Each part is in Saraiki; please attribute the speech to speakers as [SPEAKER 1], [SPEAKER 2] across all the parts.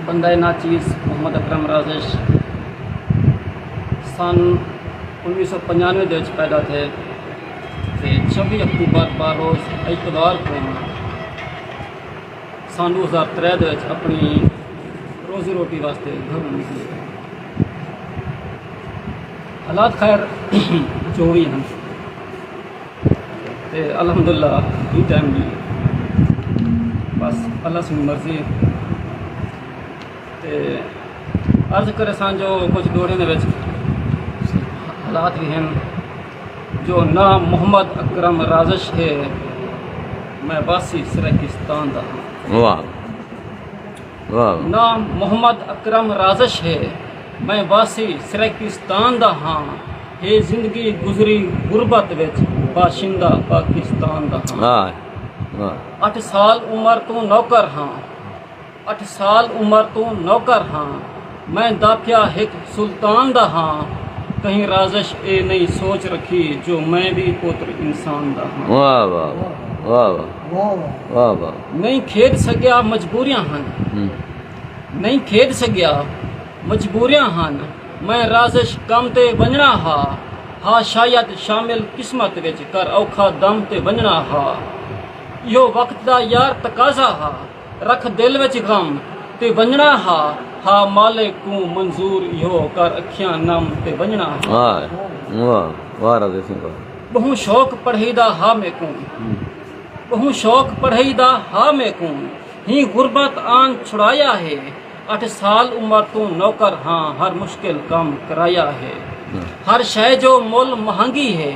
[SPEAKER 1] بندہ ناچیز محمد اکرم رازش سن انوی سو پنجانوے دے وچ پیدا تھے تے چھبی اکتوبر بار روز اقتدار کو سن دو ہزار ترے دے وچ اپنی روزی روٹی واسطے گھروں نکلے حالات خیر جو بھی ہیں تے الحمداللہ ایں ٹائم وی بس اللہ سنڑی مرضی ہے تے عرض کرے سان جو کچھ دوڑے نے وچ حالات بھی ہیں جو نہ محمد اکرم رازش ہے میں باسی سرکستان دا ہاں
[SPEAKER 2] نہ
[SPEAKER 1] محمد اکرم رازش ہے میں باسی سرکستان دا ہاں اے زندگی گزری غربت وچ باشندہ پاکستان دا ہاں۔ اٹھ سال عمر توں نوکر ہاں۔ اٹھ سال عمر توں نوکر ہاں۔ میں داپھیا ہک سلطان دا ہاں۔ کہیں رازش اے نئیں سوچ رکھی جو میں وی پوتر انسان دا
[SPEAKER 2] ہاں۔ نئیں کھیڈ سگیا
[SPEAKER 1] مجبوریاں ہن۔ نئیں کھیڈ سگیا مجبوریاں ہن۔ میں رازش کم تے ونجنڑاں ہا ہا شاید شامل قسمت وچ کر اوکھا دم تے ونجنڑاں ہا ایہو وقت دا یار تقاضا ہا رکھ دل وچ غم تے ونجنڑاں ہا ہا مالک کوں منظور ایہو کر اکھیاں نم تے ونجنڑاں ہا۔
[SPEAKER 2] بہوں شوق
[SPEAKER 1] پڑھئی دا ہا میکوں بہوں شوق پڑھئی دا ہا میکوں ہی غربت آن چھڑایا ہے۔ اٹھ سال عمر توں نوکر ہاں ہر مشکل کم کرایا ہے ہر شے جو مل مہنگی ہے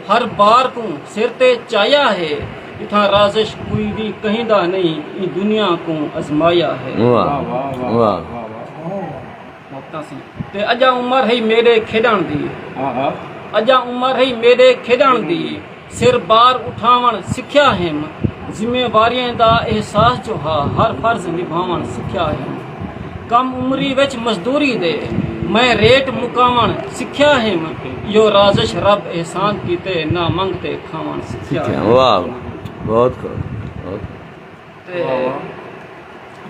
[SPEAKER 1] ہر بار کوں سر تے چایا ہے اتھاں رازش کوئی وی کہیں دا نہیں ایں دنیا کوں ازمایا ہے تے اجاں عمر ہئی میڈے کھیڈن دی اجاں عمر ہئی میڈے کھیڈن دی سر بار اٹھاوݨ سکھیا ہیم۔ ذمہ واریاں دا احساس جو ہا ہر فرض نبھاوݨ سکھیا ہیم۔ کم عمری وچ مزدوری دے میں ریٹ مکاوݨ سکھیا ہیم۔ ایہو رازش رب احسان کیتے نہ منگ تے کھاوݨ سکھیا
[SPEAKER 2] ہیم۔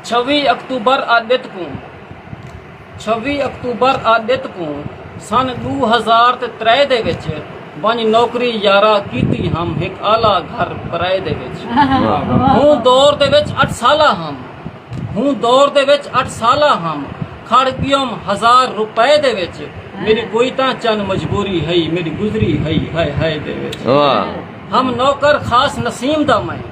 [SPEAKER 1] چھوی اکتوبر آ ڈت کوں چھوی اکتوبر آ ڈت کوں سن ڈو ہزار تے ترے دے وچ ونج نوکری یارا کیتی ہم ہک اعلی گھر پرائے دے وچ ہوں دور دے وچ اٹھ سالہ ہم ہوں دور دے وچ اٹھ سالہ ہم کھڑ گیوم ہزار روپے دے وچ میری کوئی تاں چن مجبوری ہئی میری گزری ہئی ہائے ہائے دے وچ ہم نوکر خاص نسیم دا میں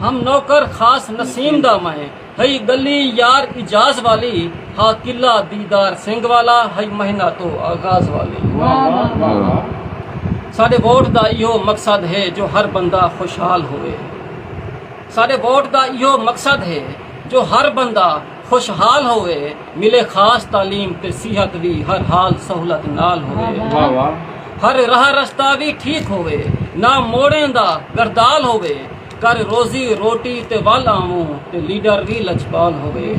[SPEAKER 1] ہم نوکر خاص نسیم دا میں ہئی گلی یار اجاز والی ہا قلعہ دیدار سنگھ والا ہئی مہینہ تو آغاز والی ساڈے ووٹ دا ایہو مقصد ہے جو ہر بندہ خوشحال ہوئے ساڈے ووٹ دا ایہو مقصد ہے جو ہر بندہ خوشحال ہووے ملے خاص تعلیم تے صحت وی ہر حال سہولت نال ہووے ہر راہ رستہ وی ٹھیک ہووے نہ موڑیں دا گردال ہووے کر روزی روٹی تے ول آووں تے لیڈر وی لجپال ہووے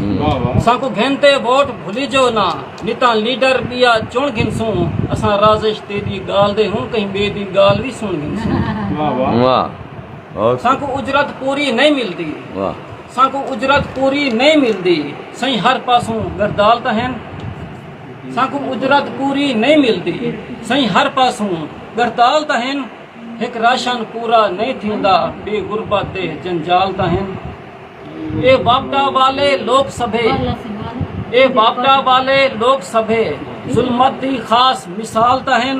[SPEAKER 1] سانکوں گھن تے ووٹ بھلیجو نہ نتاں لیڈر بیا چن گھنسوں اساں رازش تیڈی گال دے ہن کہیں بے دی گال وی سن گھنسوں سانکوں اجرت پوری نئیں ملدی سانکوں اجرت پوری نئیں ملدی۔ سئیں ہر پاسوں گردال تاں ہن۔ سانکوں اجرت پوری نئیں ملدی۔ سئیں ہر پاسوں گردال تاں ہن۔ ہک راشن پورا نئیں تھیندا۔ ڈے غربت دے جنجال تاں ہن۔ اے واپڈا والے لوک سبھے۔ اے واپڈا والے لوک سبھے۔ ظلمت دی خاص مثال تاں ہن۔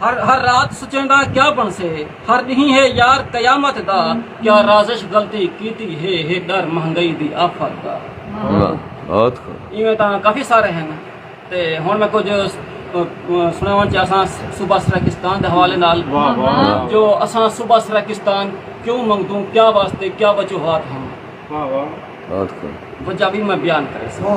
[SPEAKER 1] ہر ہر رات سچیندا کیا بنسے ہر ڈینہہ ہے یار قیامت دا کیا رازش غلطی کیتی ہے ہے ڈر مہنگائی دی آفت دا
[SPEAKER 2] ایویں تاں کافی سارے
[SPEAKER 1] ہیں تے ہن میں کچھ سناون چاہساں صوبہ سرکستان دے حوالے نال جو اساں صوبہ سرکستان کیوں منگدوں کیا واسطے کیا وجوہات ہیں
[SPEAKER 2] وجہ بھی میں بیان کرے
[SPEAKER 1] سکوں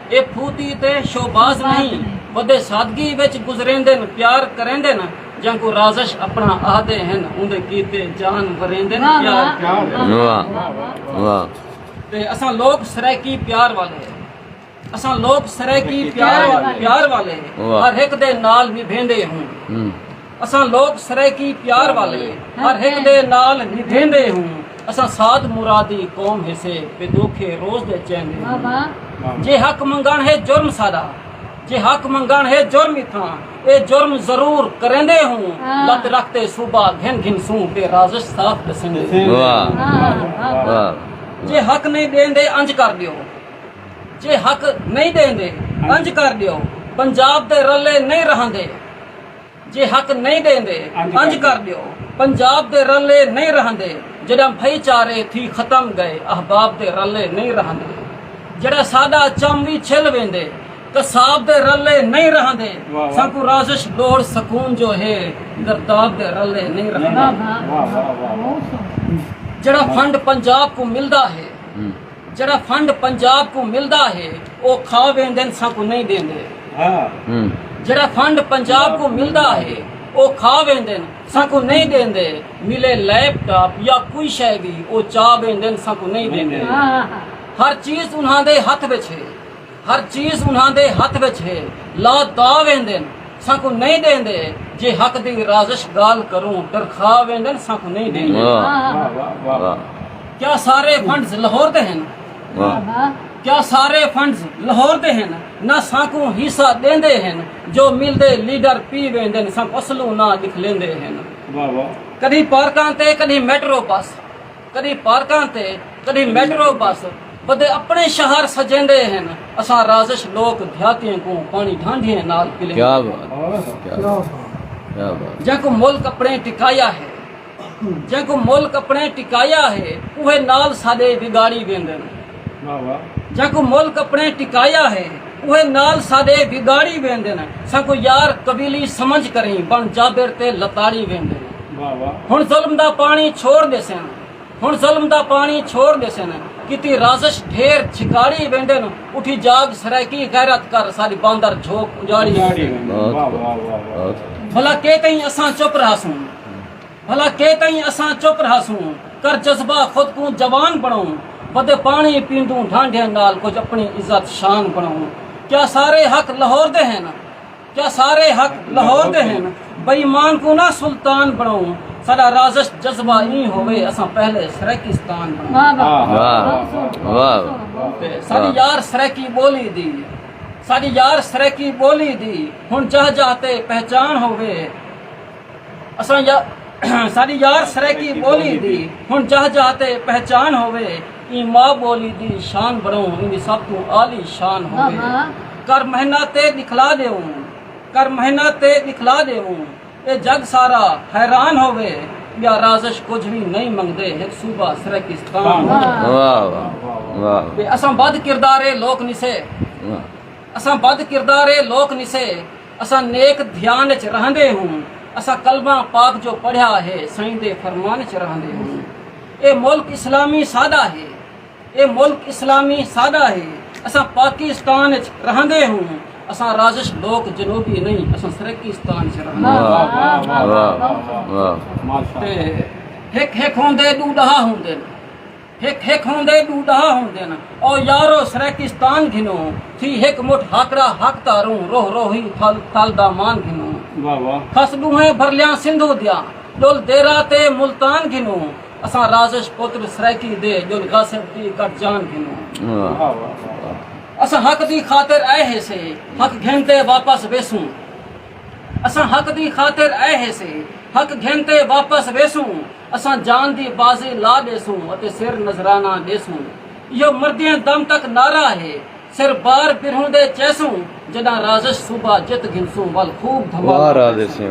[SPEAKER 1] اے پھوتی تے شوباز نئیں ودے سادگی وچ گزریندن پیار کریندن جینکوں رازش اپنا آہدے ہن اوندے کیتے جان وریندن پیار کریندن واہ واہ واہ
[SPEAKER 2] تے
[SPEAKER 1] اساں لوک سرائیکی پیار والے اساں لوک سرائیکی پیار والے ہر ہک دے
[SPEAKER 2] نال
[SPEAKER 1] نبھیندے ہوں۔ اساں لوک سرائیکی پیار والے ہر ہک دے نال ندھیندے ہوں اساں سعد مرادی قوم ہیسے بے دوکھے روز دے چیندے ہوں جے حق منگن ہے جرم ساڈا جے حق منگن ہے جرم اتھاں اے جرم ضرور کریندے ہوں لت رکھ تے صوبہ گھن گھن سوں تے رازش صاف ڈسیندے
[SPEAKER 2] جے حق
[SPEAKER 1] نہیں دیندے انج کر دیو جے حق نہیں دیندے انج کر دیو پنجاب دے رلے نہیں رہندے جے حق نئیں ڈیندے انج کر ڈیو پنجاب دے رلے نئیں رہندے جڈاں بھئی چارے تھی ختم گئے احباب دے رلے نئیں رہندے جڈاں ساڈا چم وی چھل ویندے قصاب دے رلے نئیں رہندے سانکوں رازش لوڑ سکون جو ہے گرداب دے رلے نئیں رہندے جڈاں فنڈ پنجاب کوں ملدا ہے جیڑھا فنڈ پنجاب کوں ملدا ہے او کھا ویندن سانکوں نئیں ڈیندے جیڑھا فنڈ پنجاب کوں ملدا ہے او کھا ویندن سانکوں نئیں ڈیندے ملے لیپ ٹاپ یا کوئی شے وی او چا ویندن سانکوں نئیں ڈیندے ہر چیز انہاں دے ہتھ وچ ہے ہر چیز انہاں دے ہتھ وچ ہے، لا دا ویندن، سانکوں نئیں ݙیندے، جے حق دی رازش ڳالھ کروں، ڈرکھا ویندن، سانکوں نئیں ݙیندے۔
[SPEAKER 2] کیا
[SPEAKER 1] سارے فنڈز لاہور دے ہن؟
[SPEAKER 2] کیا سارے
[SPEAKER 1] فنڈز لاہور دے ہن؟ نہ سانکوں حصہ ݙیندے ہن، جو ملدے لیڈر پی ویندن، سانکوں اصلوں نہ ݙکھ لیندے ہن۔ کݙھی پارکاں تے کݙھی میٹرو بس۔ کݙی پارکاں تے کݙی میٹرو بس بدے اپݨے شہر سجیندے ہن اساں رازش لوک دیہاتیں کوں پاݨی ڈھانڈھیں نال پلیندے کیا بات
[SPEAKER 2] جیں کوں ملک اپݨے
[SPEAKER 1] ٹکایا ہے جیں کوں ملک اپݨے ٹکایا ہے اوہے نال ساݙے وگاڑی ویندن جیکوں ملک اپݨے ٹکایا ہے اوہے نال ساݙے وگاڑی ویندن سانکوں یار قبیلی سمجھ کریں بݨ جابر تے لتاڑی ویندن ہݨ ظلم دا پاݨی چھوڑ ݙیسن ہݨ ظلم دا پاݨی چھوڑ ݙیسن کیتی رازش ڈھیر جھکاڑی ویندن اٹھی جاڳ سرائیکی غیرت کر ساݙی باندر جھوک اجاڑی ویندن بھلا کے کہیں اساں چپ رہسوں۔ بھلا کے کہیں اساں چپ رہاسوں کر جذبہ خود کوں جوان بݨاؤں ودے پاݨی پیندوں ڈھانڈھیاں نال کجھ اپݨی عزت شان بݨاؤں کیا سارے حق لہور دے ہن کیا سارے حق لہور دے ہن بئیمان کوں نہ سلطان بݨاؤں ساڈا رازش جذبہ ایں ہووے اساں پہلے سرائیکستان بݨاؤں
[SPEAKER 2] ساڈی یار
[SPEAKER 1] سرائیکی ٻولی دی ساڈی یار سرائیکی ٻولی دی ہݨ جاہ جاہ تے پہچان ہووے اساڈی یار سرائیکی ٻولی دی ہن جاہ جاہ تے پہچان ہووے ایں ماء ٻولی دی شان بنڑوں ایندی سب توں عالی شان ہووے کر مہنہ تے دکھلا ڈیوں کر مہنہ تے دکھلا ڈیوں اے جگ سارا حیران ہووے بیا رازش کجھ وی نئیں منگدے ہک صوبہ سرائیکستان ہووے
[SPEAKER 2] اساں بد
[SPEAKER 1] کردارے لوک نسے اساں بد کردارے لوک نسے اساں نیک دھیان اچ رہندے ہوں اساں کلمہ پاک جو پڑھیا ہے سائیں دے فرمان اچ رہندے ہوں اے ملک اسلامی ساڈا ہے اے ملک اسلامی ساڈا ہے اساں پاکستان اچ رہندے ہوں اساں رازش لوک جنوبی نہیں اساں سرکیستان اچ رہندے ہوں تے ہک ہک ہوندے ڈو ڈہا ہوندے ہک ہک ہوندے ݙو ݙاہ ہوندن او یارو سرائیکستان گھنوں تھی ہک مٹھ ہاکڑا ہک تاروں روہ روہی اتھل تل دا مان گھنوں واہ واہ کھس ݙوہیں بھرلیاں سندھو دیاں ݙل دیرہ تے ملتان گھنوں اساں رازش پتر سرائیکی دے ڄل غاصب دی کٹ جان گھنوں واہ واہ اساں حق دی خاطر آئے ہیسے حق گھن تے واپس ویسوں اساں حق دی خاطر آئے ہیسے حق گھن تے واپس ویسوں اساں جان دی بازیں لا ݙیسوں اتے سر نذرانہ ݙیسوں ایہو مردیں دم تک نعرہ ہے سر بار برہوں دے چیسوں جݙاں رازش صوبہ جت گھنسوں ول خوب دھماکہ کریسوں۔